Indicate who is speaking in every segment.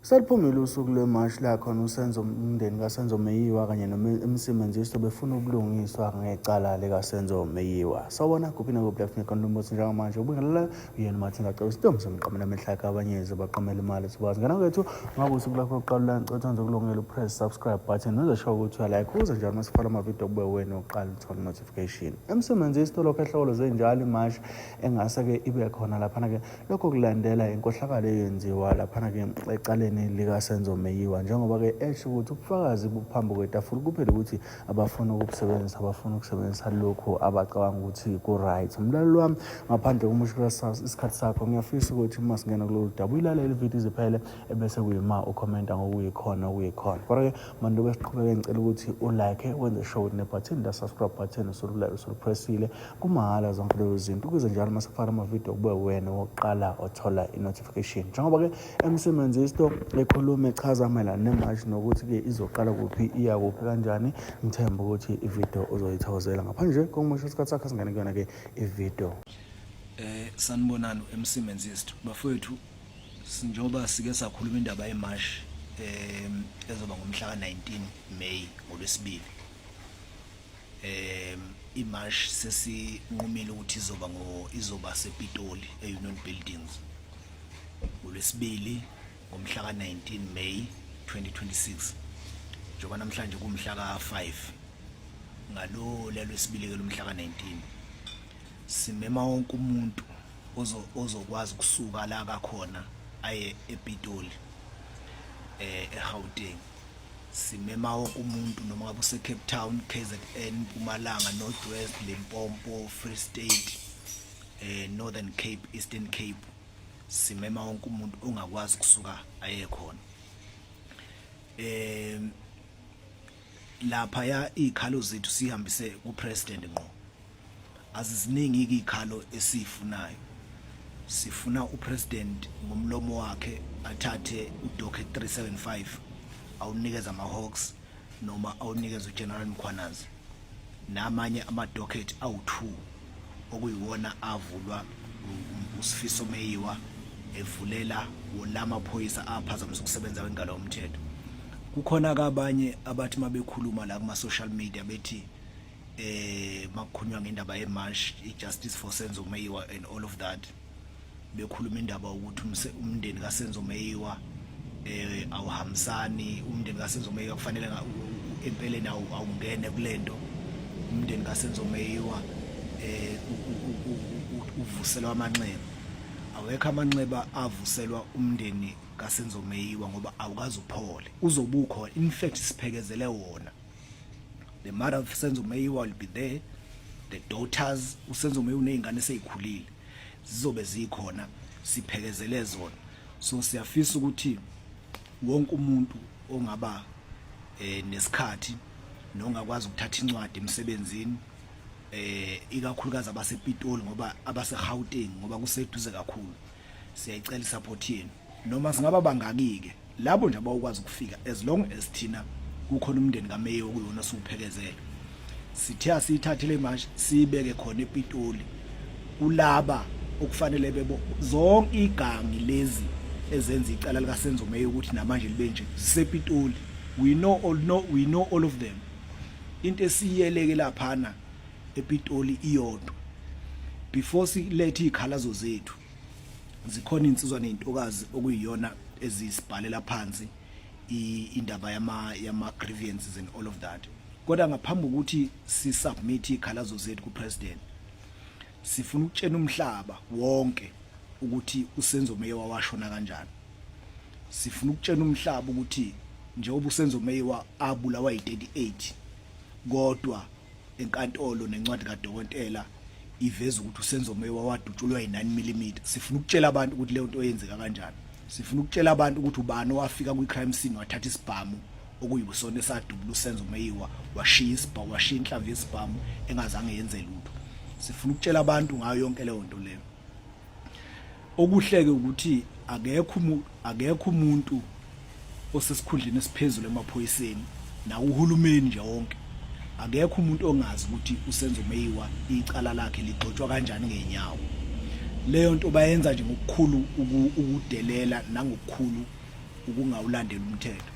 Speaker 1: Seliphumile usuku lwemashi la khona uSenzo umndeni kaSenzo Meyiwa kanye noMC Menzisto befuna ubulungiswa ngecala likaSenzo Meyiwa. Sawubona kuphi nakuphi la kufuneka khona umbuso njengamanje ubingelela uyena uMathinga cela isidumbu somqamela amehla yakhe abanyezi baqamela imali sibazi ngena kwethu ngabe usuku lakho lokuqala ulancothwa nje kulungela upress subscribe button nozosho ukuthi uyalike uze njalo masifala amavidiyo kube wena oqala uthole notification. MC Menzisto lokho ehlokolo zenjalo imashi engase-ke ibe khona laphana-ke lokho kulandela inkohlakalo eyenziwa laphana-ke ecaleni likasenzo meyiwa njengoba-ke esho ukuthi ubufakazi buphambi kwetafula kuphela ukuthi abafuna ukubusebenzisa abafuna ukusebenzisa lokhu abacabanga ukuthi ku-right mlaleli wami ngaphandle komushula isikhathi sakho ngiyafisa ukuthi uma singena kulolu daba uyilalele ividiyo iziphele ebese kuyima ukhomenta ngokuyikhona okuyikhona kodwa-ke mantu besiqhubeke ngicela ukuthi ulike wenze show nebhathini la-subscribe button usululayo usulipressile kumahhala zonke lezo zinto ukuze njalo uma sekufaka amavidiyo kube wena wokuqala othola i-notification njengoba-ke emsebenzisto ekhuluma echaza mayelana nemashi nokuthi-ke izoqala kuphi iya kuphi kanjani ngithemba ukuthi ividiyo uzoyithawuzela ngaphandle nje kokumusha isikhathi sakho singene kuyona-ke ividiyo um eh,
Speaker 2: sanibonani emsebenzisto bafowethu njengoba sike sakhuluma indaba yemashi um ezoba ngomhla ka-19 may ngolwesibili um imash sesinqumile ukuthi izoba ngo izoba sepitoli e-union buildings ngolwesibili ngomhla ka-19 may 2026 njengoba namhlanje kumhla ka-5 ngalo lelwesibili ke lomhla ka-19 simema wonke umuntu ozokwazi ukusuka la kakhona aye epitoli um eh, egauteng simema wonke umuntu noma ngabe usecape town kzn mpumalanga north west limpompo free state eh northern cape eastern cape simema wonke umuntu ongakwazi kusuka aye khona eh lapha ya ikhalo zethu sihambise ku president ngqo aziziningi izikhalo esifunayo sifuna upresident ngomlomo wakhe athathe udokhe 375 awunikeza amahawks noma awunikeza ugeneral mkhwanazi namanye amadocket awu-2 okuyiwona avulwa usifiso meyiwa evulela wona amaphoyisa aphazamisa ukusebenza kwengalo yomthetho kukhona kabanye abathi mabekhuluma la kuma social media bethi eh makukhulunywa ngendaba ye march i justice for Senzo Meyiwa and all of that bekhuluma indaba ukuthi umndeni ka Senzo Meyiwa eh awuhambisani umndeni ka Senzo Meyiwa kufanele empeleni awungene kulento umndeni ka Senzo Meyiwa eh uvuselwa amanxeba awekho amanxeba avuselwa umndeni ka Senzo Meyiwa ngoba awukazi uphole uzobukhona in fact siphekezele wona the mother of Senzo Meyiwa will be there the daughters uSenzo Meyiwa unezingane sezikhulile zizobe zikhona siphekezele zona so siyafisa ukuthi wonke umuntu ongaba eh nesikhathi nongakwazi ukuthatha incwadi emsebenzini eh ikakhulukazi abasepitoli ngoba abaseGauteng ngoba kuseduze kakhulu siyayicela support yenu noma singaba bangakike labo nje abawukwazi ukufika as long as thina kukhona umndeni kameyi okuyona siwuphekezele sithe asiyithathe le march siyibeke khona ePitoli kulaba okufanele bebo zonke igangi lezi ezenza icala lika Senzo Meyi ukuthi namanje libe nje zisePitoli we know all know we know all of them into esiyeleke laphana ePitoli iyodwa before silethe izikhalazo zethu zikhona insizwa nezintokazi okuyiyona ezisibhalela phansi indaba yama yama grievances and all of that kodwa ngaphambi ukuthi si submit izikhalazo zethu ku president sifuna ukutshena umhlaba wonke ukuthi usenzo meya washona kanjani sifuna ukutshena umhlaba ukuthi njengoba usenzo meyiwa abulawa yi-38 kodwa enkantolo nencwadi kadokotela iveza ukuthi uSenzo Meyiwa wadutshulwa yi-9 mm sifuna ukutshela abantu ukuthi leyo nto yenzeka kanjani sifuna ukutshela abantu ukuthi ubani owafika kwi-crime scene wathatha isibhamu okuyibusona esadubula uSenzo Meyiwa washiya isibhamu washiya inhlamvu yesibhamu engazange yenze lutho sifuna ukutshela abantu ngayo yonke leyo nto leyo okuhleke ukuthi akekho akekho umuntu osesikhundleni esiphezulu emaphoyiseni nawuhulumeni nje wonke akekho umuntu ongazi ukuthi usenzo meyiwa icala lakhe ligxotshwa kanjani ngenyawo leyo nto bayenza nje ngokukhulu ukudelela nangokukhulu ukungawulandela umthetho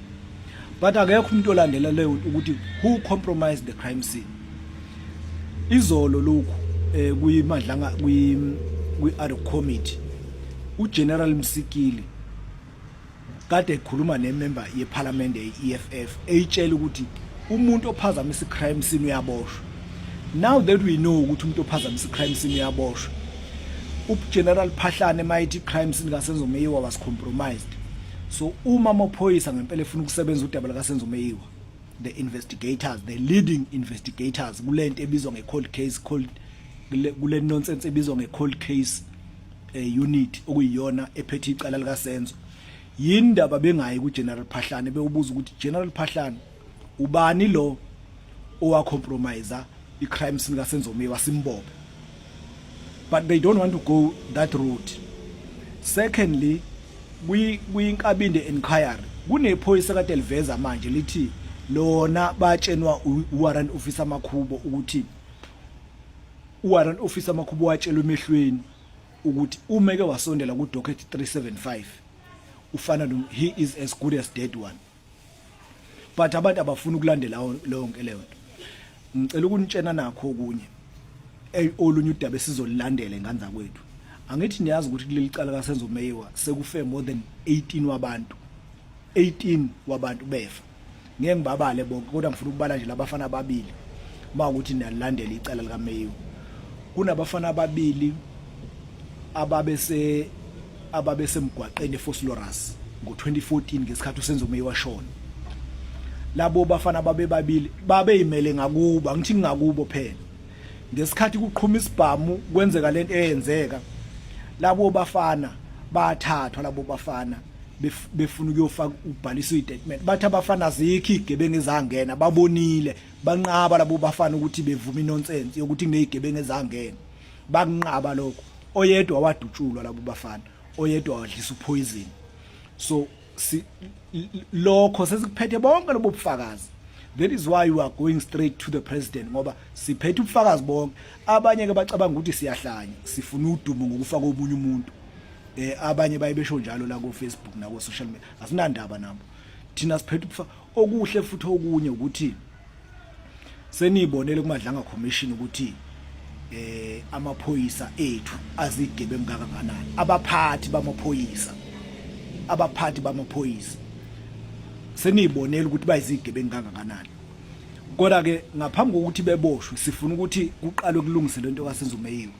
Speaker 2: but akekho umuntu olandela leyo ukuthi who compromised the crime scene izolo lokhu eh kuyimadlanga kwi kwi ad hoc committee uGeneral Msikili kade ekhuluma nemember yeParliament yeEFF eyitshela ukuthi umuntu ophazamisa icrime scene uyaboshwa now that we know ukuthi umuntu ophazamisa icrime scene uyaboshwa uGeneral Phahlane mayithi icrime scene kasenzo meyiwa was compromised so uma amaphoyisa ngempela efuna ukusebenza udaba lakasenzo meyiwa the investigators the leading investigators kule nto ebizwa nge-cold case cold kule nonsense ebizwa nge-cold case eh, unit okuyiyona ephethe icala likasenzo yini ndaba bengayi ku-general phahlane bewubuza ukuthi general phahlane ubani lo owa compromise i crime scene kaSenzomiwe wasimbobe but they don't want to go that route secondly kwinkabinde inquiry kunephoyisa kade liveza manje lithi lona batshenwa uwarrant officer makhubo ukuthi uwarrant officer makhubo watshelwa emehlweni ukuthi umeke wasondela ku docket 375 ufana no he is as good as dead one but abantu abafuna ukulandela lonke leyo nto ngicela ukunitshena nakho okunye olunye udaba esizolilandela ingane zakwethu angithi niyazi ukuthi kuleli cala kasenzo meyiwa sekufe more than 18 wabantu 18 wabantu befa ngeke ngibabale bonke kodwa ngifuna ukubala nje labafana ababili uma ukuthi niyalandela icala likameyiwa kunabafana ababili ababese ababesemgwaqeni eFoslorus ngo-2014 ngesikhathi uSenzo Meyi washona labo bafana babebabili babeyimele ngakubo angithi ngingakubo phela ngesikhathi kuqhuma isibhamu kwenzeka lento eyenzeka labo bafana bathathwa labo bafana befuna ukuyofaka ubhalisa istatement bathi abafana zikho igebengu ezangena babonile banqaba labo bafana ukuthi bevuma inonsense yokuthi kunezigebengu ezangena bakunqaba lokho oyedwa wadutshulwa labo bafana oyedwa wadlisa upoison so si, lokho sesikuphethe bonke lobo bufakazi that is why you are going straight to the president ngoba siphethe ubufakazi bonke abanye ke bacabanga ukuthi siyahlanya sifuna udumo ngokufa komunye umuntu eh abanye baye besho njalo la ku Facebook na ku social media asinandaba nabo thina siphethe okuhle futhi okunye ukuthi seniyibonele kumadlanga commission ukuthi eh amaphoyisa ethu azidebe ngaka kanani abaphathi bamaphoyisa abaphathi bamaphoyisa seniyibonela ukuthi bayizidebe ngaka kanani kodwa ke ngaphambi kokuthi beboshwe sifuna ukuthi kuqalwe kulungise lento kasenzo meyiwe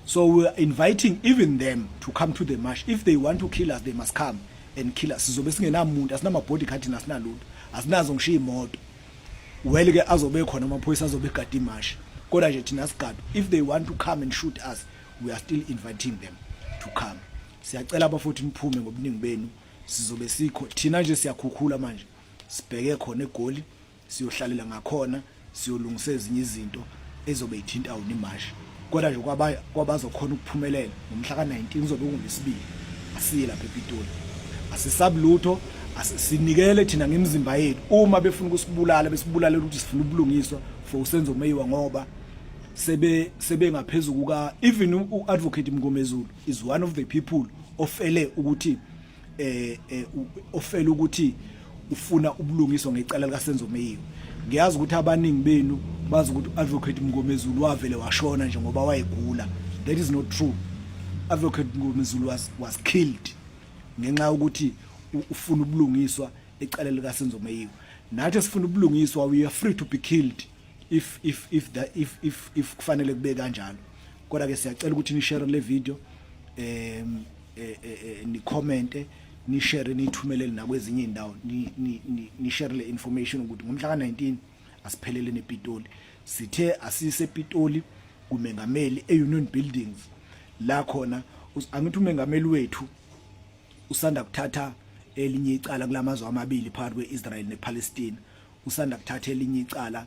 Speaker 2: so we are inviting even them to come to the march if they want to kill us they must come and kill us sizobe singenamuntu asinama body card nasinalutho asinazo ngishiya imoto well ke azobe khona amaphoyisa azobe egadi imashi kodwa nje thina sigadu if they want to come and shoot us we are still inviting them to come siyacela abafuthi niphume ngobuningi benu sizobe sikho thina nje siyakhukhula manje sibheke khona egoli siyohlalela ngakhona siyolungisa ezinye izinto ezobe ithinta wona imashi kodwa nje kwabazokhona ukuphumelela ngomhla ka-19 kuzobe kungesibili asiye lapha epitoli asisabi lutho sinikele thina ngemizimba yethu uma befuna ukusibulala besibulale ukuthi sifuna ubulungiswa for usenzo umeyiwa ngoba sebe sebengaphezulu kuka even u-advocate mngomezulu is one of the people ofele ukuthi eh, eh ofela ukuthi ufuna ubulungiswa ngecala likaSenzo Meyiwe ngiyazi ukuthi abaningi benu bazi ukuthi advocate Mngomezulu wavele washona nje ngoba wayegula that is not true advocate Mngomezulu was was killed ngenxa yokuthi ufuna ubulungiswa ecala likaSenzo Meyiwe nathi sifuna ubulungiswa we are free to be killed if if if that if if if kufanele kube kanjalo kodwa ke siyacela ukuthi ni share le video em eh, eh, eh, ni comment ni share ni thumelele nakwezinye indawo ni ni ni share le information ukuthi ngomhla ka19 asiphelele nePitoli sithe asise Pitoli kumengameli eUnion Buildings la khona angithi umengameli wethu usanda kuthatha elinye icala kulamazwe amabili phakathi kweIsrael nePalestine usanda kuthatha elinye icala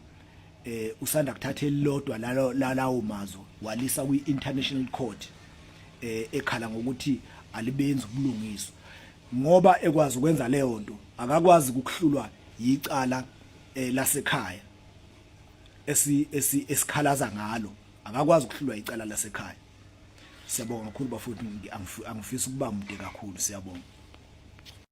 Speaker 2: eh usanda kuthatha elilodwa lalawo mazwe walisa kwi International Court eh ekhala ngokuthi alibenzi ubulungiswa ngoba ekwazi ukwenza leyo nto akakwazi ukuhlulwa yicala eh, lasekhaya esi esikhalaza ngalo akakwazi ukuhlulwa icala lasekhaya siyabonga kakhulu bafowethu angifisa ukuba mude kakhulu siyabonga